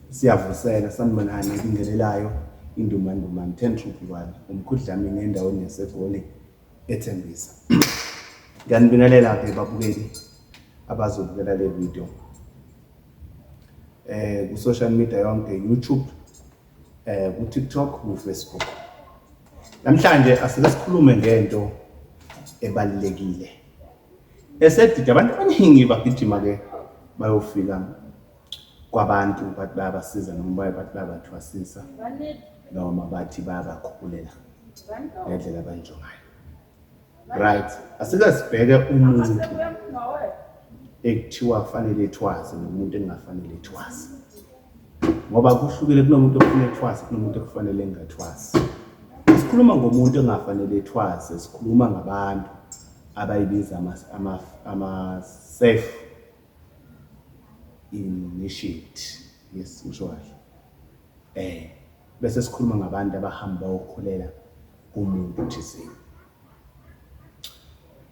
Siyavuseka sanibonani ebingelelayo indumandumane thentruphi kwami umkhudlamini endaweni yasegoli ethembisa ngiyanibingelela-ke babukeli abazobukela le video eh ku-social media yonke youtube eh ku-tiktok ku-facebook namhlanje asike sikhulume ngento ebalulekile esedida abantu abaningi bagijima-ke bayofika kwabantu bathi bayabasiza noma baye bathi bayabathwasisa noma bathi bayabakhubulela ngendlela abayintsho ngayo right asike sibheke umuntu ekuthiwa kufanele ethwaze nomuntu engafanele ethwaze ngoba kuhlukile kunomuntu ofuna ethwase kunomuntu okufanele engathwasi sikhuluma ngomuntu engafanele ethwase sikhuluma ngabantu abayibiza ama-safe initiate yes usho kahle um bese sikhuluma ngabantu abahamba bayokhulela kumuntu thizeni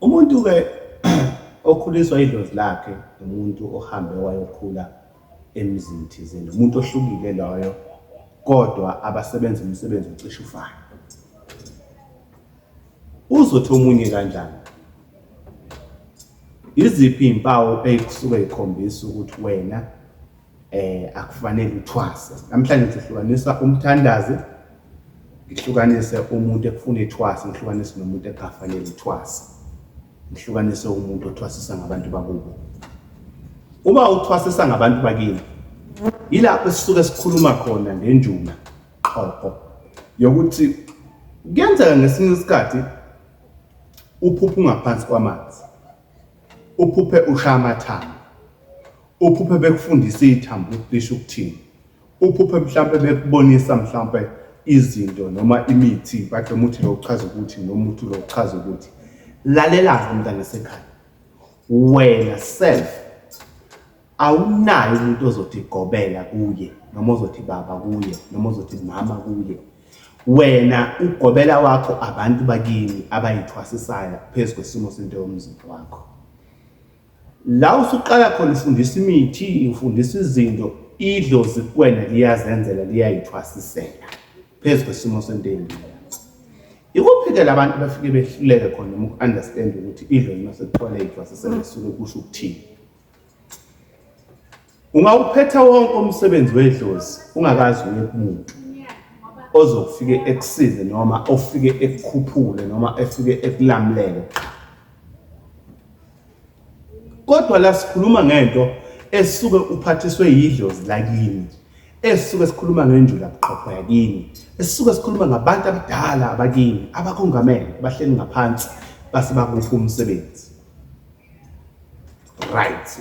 Umuntu-ke okhuliswa idlozi lakhe umuntu ohambe wayokhula emzini thizeni, umuntu ohlukile loyo kodwa abasebenza umsebenzi ocishe ufane. Uzothi omunye kanjani? Yiziphi iy'mpawu ey'kusuke y'khombisa ukuthi wena eh akufanele uthwase namhlanje sihlukanisa umthandazi ngihlukanise umuntu ekufuna ithwasa ngihlukanise nomuntu ekafanele ithwasa ngihlukanise umuntu othwasisa ngabantu bakubo uma uthwasisa ngabantu bakini yilapho esisuke sikhuluma khona ngenjuma qhoqho yokuthi kuyenzeka ngesinye isikhathi uphuphe ungaphansi kwamanzi uphuphe ushaya amathanga Uphuphe bekufundisa ithambo ukuthi lisho ukuthini. Uphuphe mhlampe bekubonisa mhlampe izinto noma imithi bathi umuthi lo uchaza ukuthi noma umuthi lo uchaza ukuthi. Lalela-ke mntana sekhaya. Wena self awunayo umuntu ozothi gobela kuye noma ozothi baba kuye noma ozothi mama kuye wena ugobela wakho abantu bakini abayithwasisayo phezu kwesimo sento yomzimba wakho La usuqala khona ufundisa imithi, ufundisa izinto, idlozi kuwena liyazenzela liyayithwasisela phezu kwesimo sento eyinqela. Ikuphi-ke la bantu bafike behluleke khona noma uku-understand ukuthi idlozi uma sekuthiwa liyayithwasisela lisuke kusho ukuthini? Ungawuphetha wonke umsebenzi wedlozi ungakazi uye kumuntu ozokufike ekusize noma ofike ekukhuphule noma efike ekulamulele kodwa la sikhuluma ngento esuke uphathiswe yidlozi lakini esuke sikhuluma ngenjula buqhopho yakini esuke sikhuluma ngabantu abadala abakini abakongamele bahleli ngaphansi base bakuphi umsebenzi right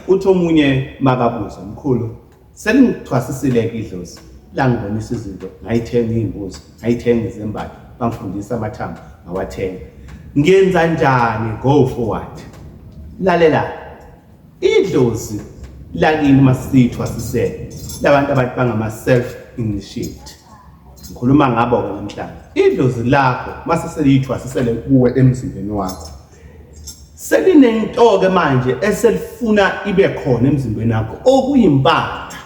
uthi omunye makabuza mkhulu selingithwasisileke idlozi langibonisa izinto ngayithenga iy'mbuzi ngayithenga izembatho bangifundisa amathambo ngawathenga ngenza njani go forward lalela idlozi lakini masithwasisele labantu abantu bangama-self initiate ngikhuluma ngabo-ke namhlanje idlozi lakho mase seliyithwasisele kuwe emzimbeni wakho selinento-ke manje eselifuna ibe khona emzimbeni yakho okuyimpatha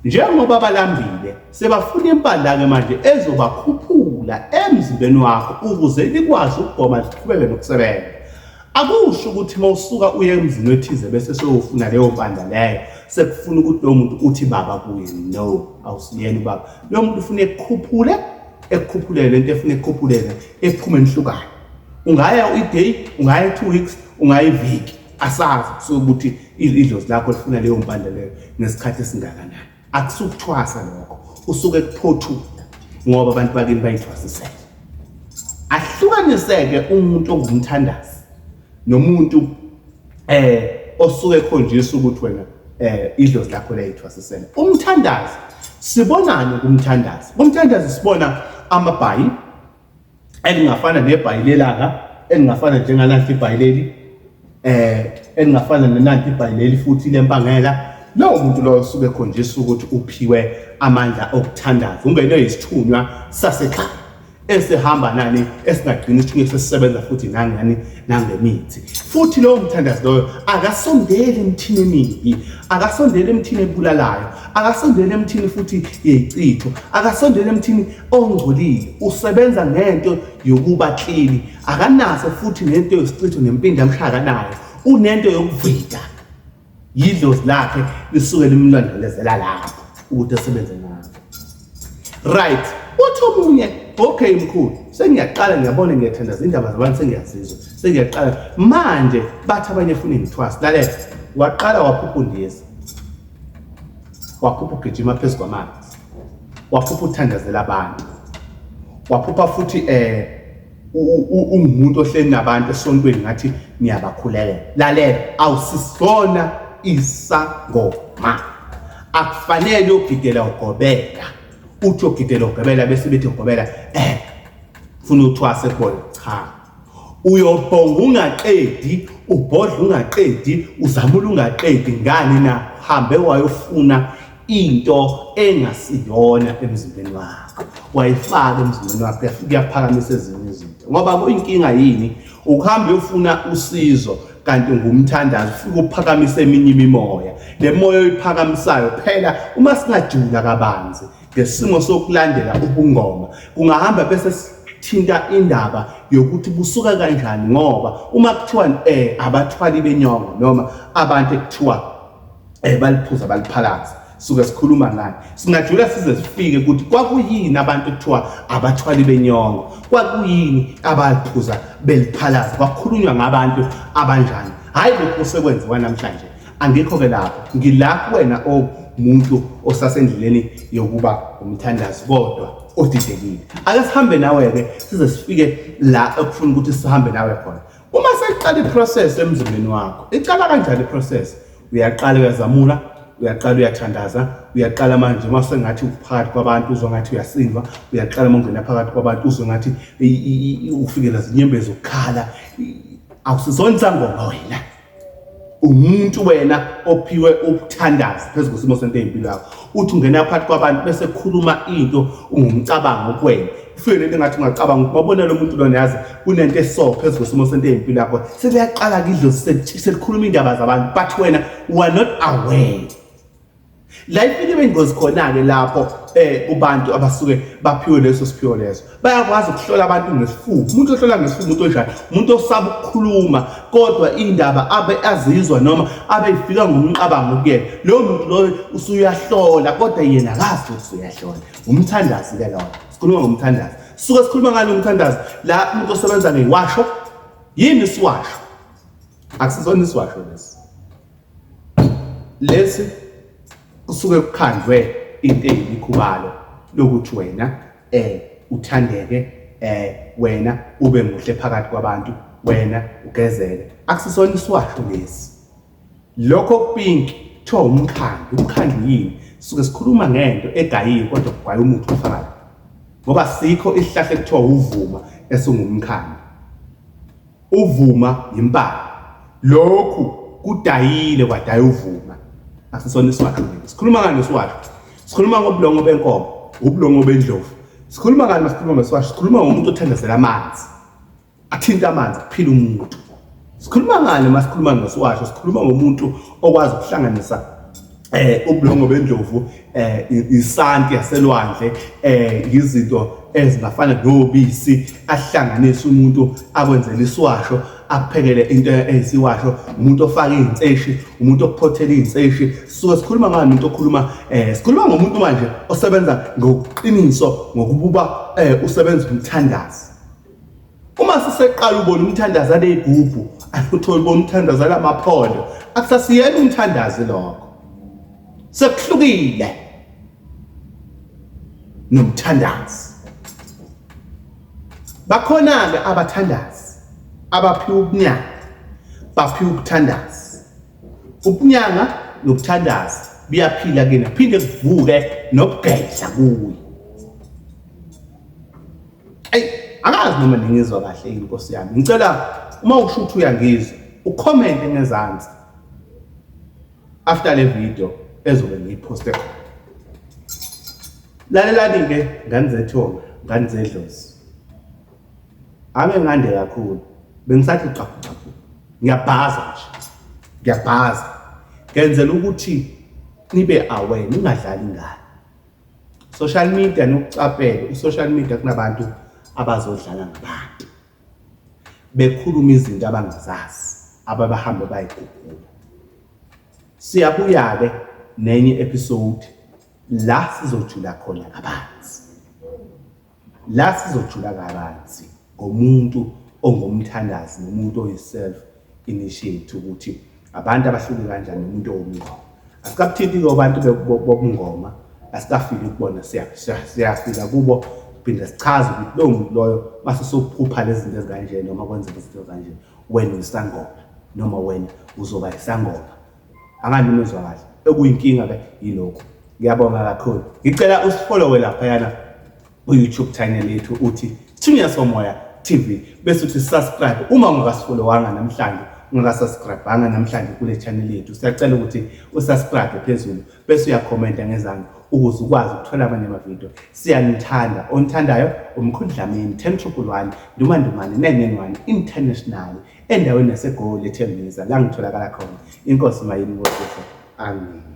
njengoba balambile sebafuna impandla-ke manje ezobakhuphula emzimbeni wakho ukuze likwazi ukugoma liqhubeke nokusebenza akusho ukuthi uma usuka uye emzini wethize bese sewufuna leyo mpandla leyo sekufuna ukuthi lowo muntu uthi baba kuye no awusiyena ubaba lowo muntu ufuna ekukhuphule ekukhuphulele into efuna ekukhuphulele ephume enhlukane ungaya uyi-day ungaya two weeks ungaya iviki asazi kusuke ukuthi idlozi lakho lifuna leyo mpande leyo nesikhathi esingakanani akusukuthwasa lokho usuke kuphothuka ngoba abantu bakini bayithwasisele ahlukaniseke umuntu ongumthandazi nomuntu eh osuke ekhonjisa ukuthi wena eh idlozi lakho liyithwasisela umthandazi sibonani kumthandazi kumthandazi sibona amabhayi elingafana nebhayilelanga elingafana njengananti ibhayileli eh elingafana nenanti ibhayileli futhi lempangela lowo muntu lowo usuke ekhonjiswa ukuthi uphiwe amandla okuthandaza ungenwe yisithunywa sasekhaya esihamba nani esingagcina isithunywa sesisebenza futhi nangani nangemithi futhi lowo mthandazi loyo akasondeli emthini emibi akasondeli emthini ebulalayo akasondeli emthini futhi yeyichitho akasondeli emthini ongcolile usebenza ngento yokuba clean akanaso futhi nento yosichitho nempinda mhlaka nayo unento yokuvida yidlozi lakhe lisuke limlondolezela lapho ukuthi asebenze ngakho right uthi omunye okay mkhulu sengiyaqala ngiyabona ngiyathanda zindaba zabantu sengiyazizwa sengiyaqala manje bathi abanye funa ngithwasa lalela waqala waphupha undiza waphupha ugijima phezu kwamanzi waphupha uthandazela abantu waphupha futhi eh ungumuntu ohleli nabantu esontweni ngathi niyabakhulelela lalela awusisona isangoma akufanele ugidela ugobela uthi ugidela ugobela bese bethi ugobela eh funa uthwase kubona cha Uyobhonga ungaqedi, ubhodla ungaqedi, uzamula ungaqedi ngani na? Hambe wayofuna into engasiyona emzimbeni wakho. Wayifaka emzimbeni wakho yafike yaphakamisa ezinye izinto. Ngoba kuyinkinga yini ukuhamba uyofuna usizo kanti ngumthandazo ufike uphakamise eminye imimoya. Le moya oyiphakamisayo phela uma singajula kabanzi Ngesimo sokulandela ubungoma kungahamba bese thinta indaba yokuthi busuka kanjani ngoba uma kuthiwa eh abathwali benyongo noma abantu ekuthiwa eh baliphuza baliphalaza suke sikhuluma ngani singajula size sifike ukuthi kwakuyini abantu kuthiwa abathwali benyongo kwakuyini abaliphuza beliphalaza kwakhulunywa ngabantu abanjani hayi lokho sekwenziwa namhlanje angikho-ke lapho ngila kuwena omuntu osasendleleni yokuba umthandazi kodwa odidekile ake sihambe nawe-ke size sifike la ekufuna ukuthi sihambe nawe khona uma seqala iprocess emzimbeni wakho iqala kanjani iprocess uyaqala uyazamula uyaqala uyathandaza uyaqala manje uma sengathi uphakathi kwabantu uzwa ngathi uyasindwa uyaqala uma ungena phakathi kwabantu uzwe ngathi ufikela zinyembezi ukukhala awusizona isangoma wena umuntu wena ophiwe ukuthandaza phezu kwesimo sento empilo yakho uthi ungena phakathi kwabantu bese khuluma into ungumcabango kwena ufike lento ngathi ungacabanga ukuthi babona lo muntu lona yazi kunento eso phezu kwesimo sento empilo yakho seliyaqala kidlo selikhuluma indaba zabantu but wena you are not aware la ifike beyingozi khona-ke lapho um eh, kubantu abasuke baphiwe leso siphiwo leso bayakwazi ukuhlola abantu ngesifuba umuntu ohlola ngesifuba umuntu onjani umuntu osaba ukukhuluma kodwa indaba abe azizwa noma abe ifika ngomqabango kuyena lowo muntu loyo usuyahlola kodwa yena akazi ukuthi usuyahlola ngumthandazi ke lona sikhuluma ngomthandazi suke sikhuluma ngalo mthandazi la umuntu osebenza ngewasho yini isiwasho akusizona isiwasho lesi Lesi kusuke kukhandwe into eyimikhubalo lokuthi wena eh uthandeke eh wena ube muhle phakathi kwabantu wena ugezele akusisona iswahlu lesi lokho pink kuthiwa umkhandlu umkhandlu yini suke sikhuluma ngento egayiwe kodwa kugwaye umuthi ofakayo ngoba sikho isihlahla ekuthiwa uvuma esingumkhandlu Uvuma yimpala. Lokhu kudayile kwadaya uvuma. Asisona isiwasho. Sikhuluma ngani isiwasho? Sikhuluma ngobulongo benkomo, ubulongo bendlovu. Sikhuluma ngani masikhuluma ngesiwasho? Sikhuluma ngomuntu othandazela amanzi. Athinta amanzi kuphila umuntu. Sikhuluma ngani masikhuluma ngesiwasho? Sikhuluma ngomuntu okwazi ukuhlanganisa eh ubulongo bendlovu eh isanti yaselwandle eh yizinto ezingafana nobisi ahlanganisa umuntu akwenzela isiwasho akuphekele into eyisiwasho umuntu ofaka izinseshi umuntu okuphothela izinseshi sisuke sikhuluma ngani umuntu okhuluma eh sikhuluma ngomuntu manje osebenza ngokuqiniso ngokububa eh usebenza umthandazi uma siseqala ubona umthandazo aleyigubhu uthole ubona umthandazo alamaphondo akusasiyena umthandazi lokho sekuhlukile nomthandazi bakhona-ke abathandazi abaphiwa ubunyanga baphiwa ukuthandaza ubunyanga nokuthandaza biyaphila kena phinde kuvuke nokugedla kuye Ey, angazi noma ningizwa kahle yini Nkosi yami. Ngicela uma usho ukuthi uyangizwa, ucomment ngezansi. After le video ezobe ngiyiposte khona. Lalelani ke ngani zethonga, ngani zedlozi. Ake ngande kakhulu. Bengisathi qaphu qaphu. Ngiyabhaza nje. Ngiyabhaza. Ngenzela ukuthi nibe aware ningadlali ngani. social media nokucaphela i-social media kunabantu abazodlala ngabantu bekhuluma izinto abangazazi ababahambe bayigugula siyabuya-ke nenye episode la sizojula khona kabanzi La sizojula kabanzi ngomuntu ongumthandazi nomuntu oyi-self initiate ukuthi abantu abahluke kanjani nomuntu owumngoma. Asikabuthinti-ke abantu bobungoma, asikafiki kubona siyafika kubo phinde sichaze ukuthi lowo muntu loyo mase sophupha lezi zinto ezikanjena noma kwenzeka izinto ezikanjena wena uyisangoma noma wena uzoba yisangoma anganimuzwa kahle okuyinkinga ke yilokho ngiyabonga kakhulu ngicela usifollowe laphayana ku-youtube channel yethu uthi thunya somoya tv bese uthi subscribe uma ungakasifolowanga namhlanje ungakasubscribanga namhlanje kule channel yethu siyacela ukuthi usubscribe phezulu bese uyakhomenta ngezange ukuze ukwazi ukuthola amanye amavidiyo siyanithanda onithandayo umkhundlameni ten triple one ndumandumane nengenwane international Endaweni yaseGoli eTembisa la ngitholakala khona. Inkosi mayini ngosizo. Amen.